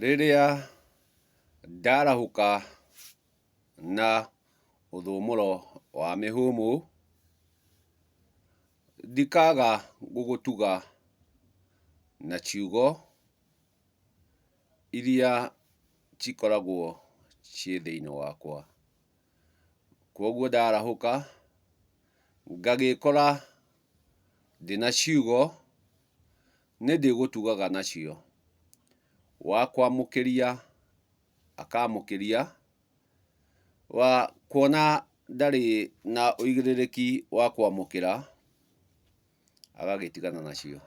Rĩrĩa ndarahũka na ũthũmũro wa mĩhũmũ, ndikaga gũgũtuga na ciugo iria cikoragwo ciĩ thĩinĩ wakwa. Kwoguo ndarahũka ngagĩkora ndĩna ciugo nĩndĩgũtugaga nacio, wa kwamũkĩria akamũkĩria, wa kuona ndarĩ na ũigĩrĩrĩki wa kwamũkĩra agagĩtigana nacio.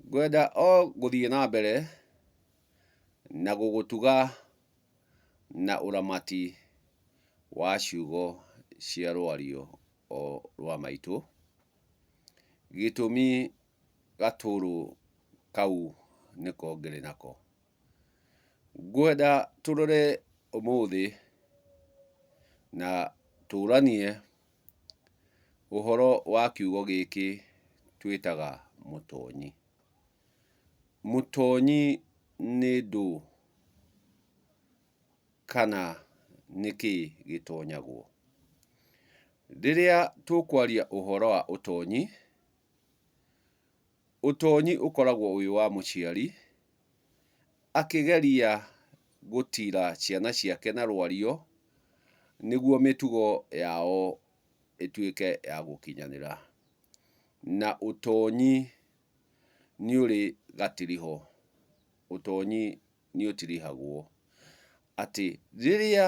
Ngwenda o gũthiĩ na mbere na gũgũtuga na ũramati wa ciugo cia rwario. o rwa maitũ, gĩtũmi gatũrũ kau nĩko ngĩrĩ nako. Ngwenda tũrore ũmũthĩ na tũranie ũhoro wa kiugo gĩkĩ twĩtaga mũtonyi. Mũtonyi nĩ ndũ? kana nĩ kĩĩ gĩtonyagwo. Rĩrĩa tũkwaria ũhoro wa ũtonyi, ũtonyi ũkoragwo wĩ wa mũciari akĩgeria gũtira ciana ciake na rwario nĩguo mĩtugo yao ĩtuĩke ya gũkinyanĩra. Na ũtonyi nĩ ũrĩ gatiriho, ũtonyi nĩũtirihagwo, atĩ rĩrĩa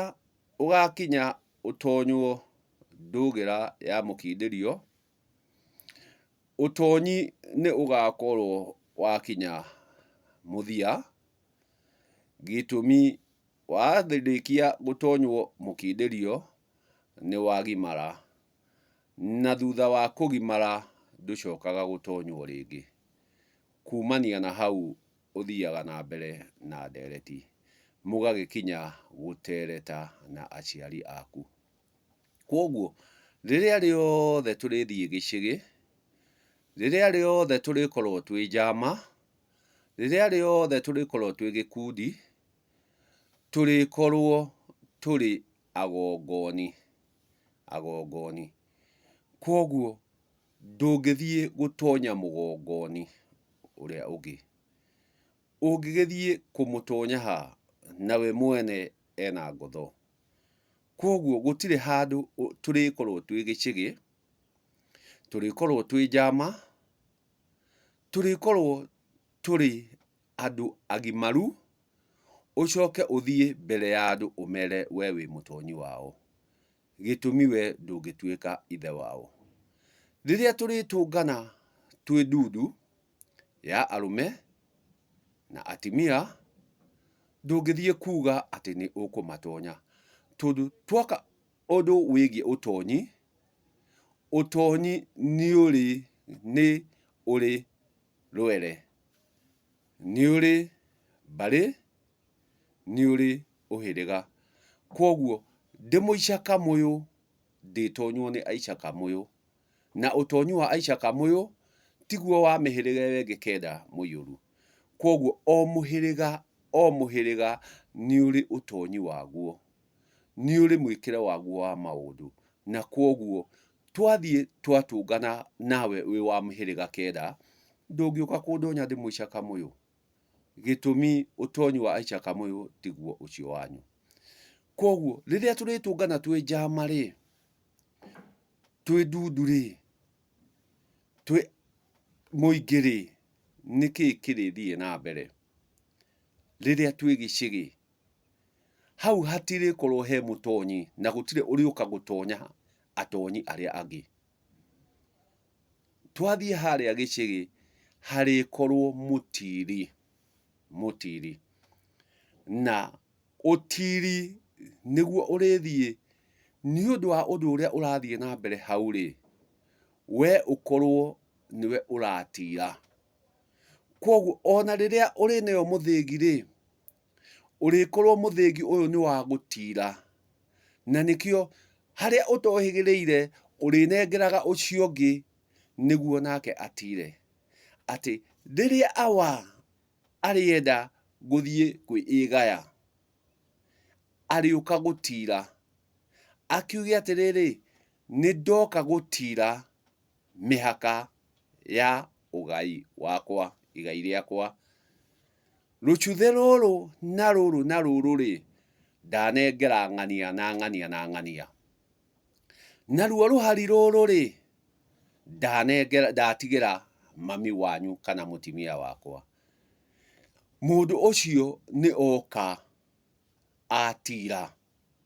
ũgakinya ũtonywo ndũgĩra ya mũkindĩrio, ũtonyi nĩũgakorwo wakinya mũthia, gĩtũmi warĩkia gũtonywo mũkindĩrio nĩwagimara, na thutha wa kũgimara ndũcokaga gũtonywo rĩngĩ, kumania na hau. ũthiaga na mbere na ndeereti, mũgagĩkinya gũteereta na aciari aku. Kwoguo, rĩrĩa rĩothe tũrĩthiĩ gĩcĩgĩ, rĩrĩa rĩothe tũrĩkorwo twĩ njama, rĩrĩa rĩothe tũrĩkorwo twĩ gĩkundi, tũrĩkorwo tũrĩ agongoni, agongoni. Kwoguo... Ndũngĩthiĩ gũtonya mũgongo-inĩ ũrĩa ũngĩ. Ũngĩgĩthiĩ kũmũtonya ha, na we mwene ena ngotho? Kwoguo gũtirĩ handũ tũrĩkorwo twĩ gĩcĩgĩ, tũrĩkorwo twĩ njama, tũrĩkorwo tũrĩ andũ agimaru, ũcoke ũthiĩ mbere ya andũ ũmere we wĩ mũtonyi wao. gĩtũmi wee ndũngĩtuĩka ithe wao. Rĩrĩa tũrĩtũngana twĩ ndundu ya arũme na atimia, ndũngĩthiĩ kuuga atĩ nĩ ũkũmatonya. Tondũ twoka ũndũ wĩgiĩ ũtonyi, ũtonyi nĩ ũrĩ, nĩ ũrĩ rwere, nĩ ũrĩ mbarĩ. nĩ ũrĩ ũhĩrĩga. Kwoguo ndĩ mũicakamũyũ ndĩtonywo nĩ aicakamũyũ, na ũtonyi wa aicakamũyũ tiguo wa mĩhĩrĩga ĩyo ĩngĩ kenda mũiyũru. Kwoguo o mũhĩrĩga o mũhĩrĩga nĩ ũrĩ ũtonyi waguo, nĩ ũrĩ mwĩkĩre waguo wa maũndũ. Na kwoguo twathiĩ twatũngana nawe wĩ wa mĩhĩrĩga kenda, ndũngĩũka kũndonya ndĩ mũicakamũyũ. gĩtũmi ũtonyi wa Aicha Kamũyũ tiguo ũcio wanyu. Koguo rĩrĩa tũrĩtũngana twĩ njama rĩ, twĩ ndundu rĩ, twĩ mũingĩ rĩ, nĩkĩ kĩrĩthiĩ na mbere rĩrĩa twĩ gĩcĩgĩ? Hau hatirĩkorwo he mũtonyi na gũtirĩ ũrĩũka gũtonya atonyi arĩa angĩ. Twathiĩ harĩa gĩcĩgĩ harĩkorwo mũtiri, mũtiri. Na ũtiri nĩguo ũrĩthiĩ nĩ ũndũ wa ũndũ ũrĩa ũrathiĩ na mbere hau rĩ, we ũkorwo nĩwe ũratira. Kwoguo ona rĩrĩa ũrĩ nayo mũthĩgi rĩ... Ũrĩkorwo mũthĩgi ũyũ nĩ wa gũtiira, na nĩkĩo harĩa ũtohĩgĩrĩire ũrĩnengeraga ũcio ũngĩ nĩguo nake atiire. Atĩ rĩrĩa awa arĩenda gũthiĩ kwĩĩgaya, arĩũka gũtiira, akiuge atĩrĩrĩ, nĩ ndoka gũtiira mĩhaka ya ũgai wakwa, igai rĩakwa. Rũcuthĩ rũrũ na rũrũ na rũrũ-rĩ, ndanengera ng'ania na ng'ania na ng'ania. Naruo rũhari rũrũ-rĩ, ndanengera, ndatigĩra mami wanyu kana mũtimia wakwa. Mũndũ ũcio nĩ oka atiira.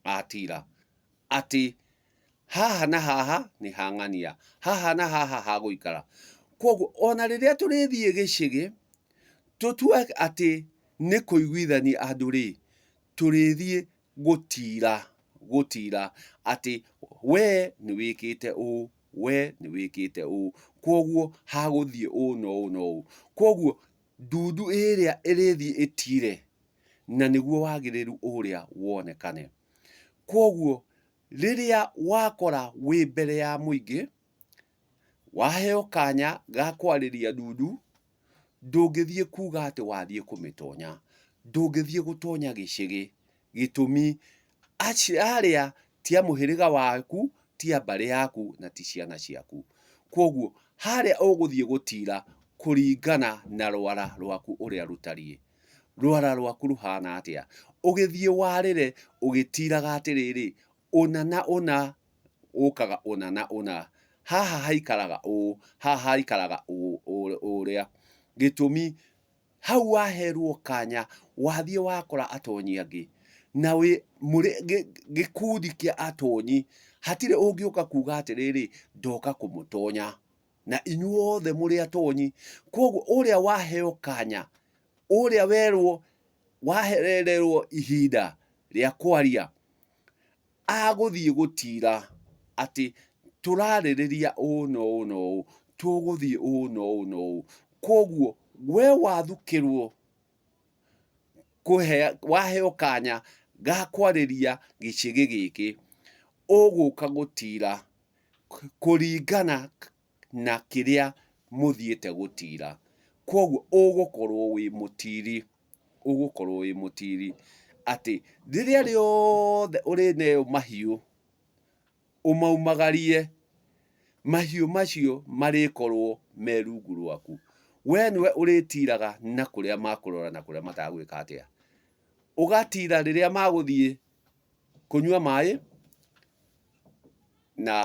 atira atĩ haha na haha nĩ hang'ania, haha na haha ha gũikara. Kwoguo ona rĩrĩa tũrĩthiĩ gĩcĩgĩ, tũtue atĩ nĩ kũiguithania andũ rĩ, tũrĩthiĩ gũtira, gũtira atĩ we nĩ wĩkĩte ũũ, we nĩ wĩkĩte ũũ, kwoguo ha gũthiĩ ũũ na ũũ na ũũ. Kwoguo... Ndundu ĩrĩa ĩrĩthiĩ ĩtiire, na nĩguo wagĩrĩru ũrĩa wonekane. Kwoguo rĩrĩa wakora wĩ mbere ya mũingĩ, waheo kanya ga kwarĩria ndundu, ndũngĩthiĩ kuuga atĩ wathiĩ kũmĩtonya. Ndũngĩthiĩ gũtonya gĩcĩgĩ. gĩtũmi, arĩa ti a mũhĩrĩga waku, ti a mbarĩ yaku na ti ciana ciaku. Kwoguo harĩa ũgũthiĩ gũtira kũringana na rwara rwaku ũrĩa rũtariĩ. Rwara rwaku rũhana atĩa? Ũgĩthiĩ warĩre ũgĩtiraga atĩrĩrĩ, ũna na ũna ũkaga ũna na ũna, haha haikaraga ũũ, haha haikaraga ũrĩa. Gĩtũmi, Hau waherwo kanya wathiĩ wakora atonyi angĩ na wĩ mũrĩ gĩkundi kĩa atonyi, hatirĩ ũngĩũka kuga atĩrĩrĩ ndoka kũmũtonya, na inyuothe mũrĩ atonyi. Koguo ũrĩa waheo kanya, ũrĩa werwo wahererwo ihinda rĩa kwaria, agũthiĩ gũtira atĩ tũrarĩrĩria ũũ na ũũ na ũũ, tũgũthiĩ ũũ na ũũ na ũũ. Kwoguo we wathukĩrwo waheo kanya ga kwarĩria gĩcĩgĩ gĩkĩ, ũgũka gũtira kũringana na kĩrĩa mũthiĩte gũtiira. Kwoguo ũgũkorwo wĩ mũtiiri, ũgũkorwo wĩ mũtiiri atĩ rĩrĩa rĩothe ũrĩneo mahiũ ũmaumagarie, mahiũ macio marĩkorwo me rungu rwaku. Wee nĩwe ũrĩtiiraga na kũrĩa makũrora na kũrĩa matagwĩka atĩa. Ũgatiira rĩrĩa magũthiĩ kũnyua maaĩ na...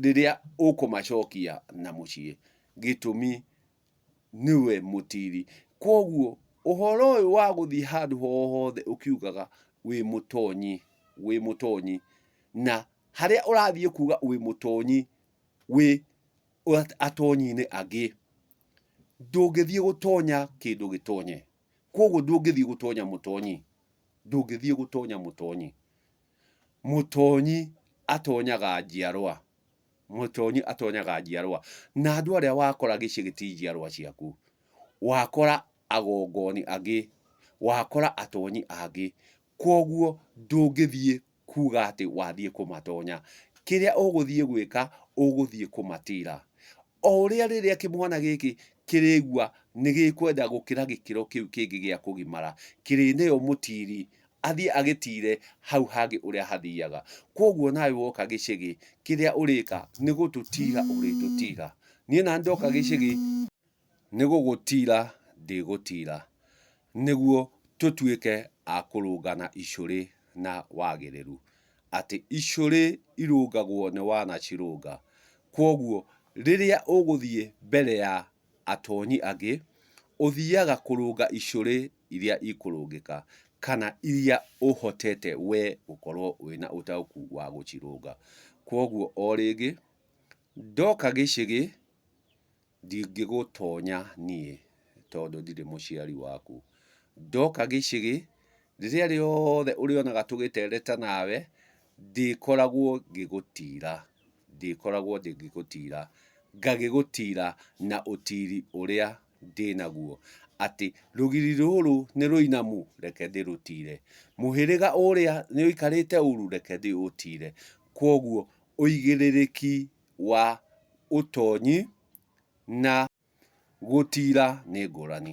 rĩrĩa ũkũmacokia na mũciĩ gĩtũmi nĩwe mũtiri. Kwoguo ũhoro ũyũ wa gũthiĩ handũ ho hothe ũkiugaga wĩ mũtonyi, wĩ mũtonyi, na harĩa ũrathiĩ kuga wĩ mũtonyi wĩ atonyi-inĩ angĩ, ndũngĩthiĩ gũtonya kĩndũ gĩtonye. Kwoguo ndũngĩthiĩ gũtonya mũtonyi, ndũngĩthiĩ gũtonya mũtonyi. Mũtonyi atonyaga njiarwa, mũtonyi atonyaga njiarwa, na andũ arĩa wakora gĩcigo ti njiarwa ciaku. Wakora agongoni angĩ, wakora atonyi angĩ, kwoguo ndũngĩthiĩ kuuga atĩ wathiĩ kũmatonya. Kĩrĩa ũgũthiĩ gwĩka, ũgũthiĩ kũmatira. O ũrĩa rĩrĩa kĩmwana gĩkĩ kĩrĩigua nĩ gĩkwenda gũkĩra gĩkĩro kĩu kĩngĩ gĩa kũgimara, kĩrĩneo mũtiri, athiĩ agĩtire hau hangĩ ũrĩa hathiaga. Kwoguo nawe woka gĩcĩgĩ, kĩrĩa ũrĩka nĩ gũtũtira ũrĩtũtira. Niĩ naniĩ ndoka gĩcĩgĩ, nĩ gũgũtira ndĩgũtira, nĩguo tũtuĩke a kũrũngana icũrĩ na wagĩrĩru. atĩ icũrĩ irũngagwo nĩ wanacirũnga. Kwoguo rĩrĩa ũgũthiĩ mbere ya atonyi angĩ, ũthiaga kũrũnga icũrĩ iria ikũrũngĩka, kana iria ũhotete we gũkorwo wĩna ũtaũku wa gũcirũnga. Kwoguo o rĩngĩ, ndoka gĩcĩgĩ, Ndingĩgũtonya niĩ tondũ ndirĩ mũciari waku. Ndoka gĩcĩgĩ, rĩrĩa rĩothe ũrĩonaga tũgĩtereta nawe, ndĩkoragwo ngĩgũtira. Ndĩkoragwo ndĩ ngĩgũtira. Ngagĩgũtira na ũtiri ũrĩa ndĩ naguo. Atĩ rũgiri rũrũ nĩ rũinamu, reke ndĩrũtire. Mũhĩrĩga ũrĩa nĩ ũikarĩte ũru, reke ndĩũtire. Kwoguo ũigĩrĩrĩki wa ũtonyi na gũtiira nĩ ngũrani.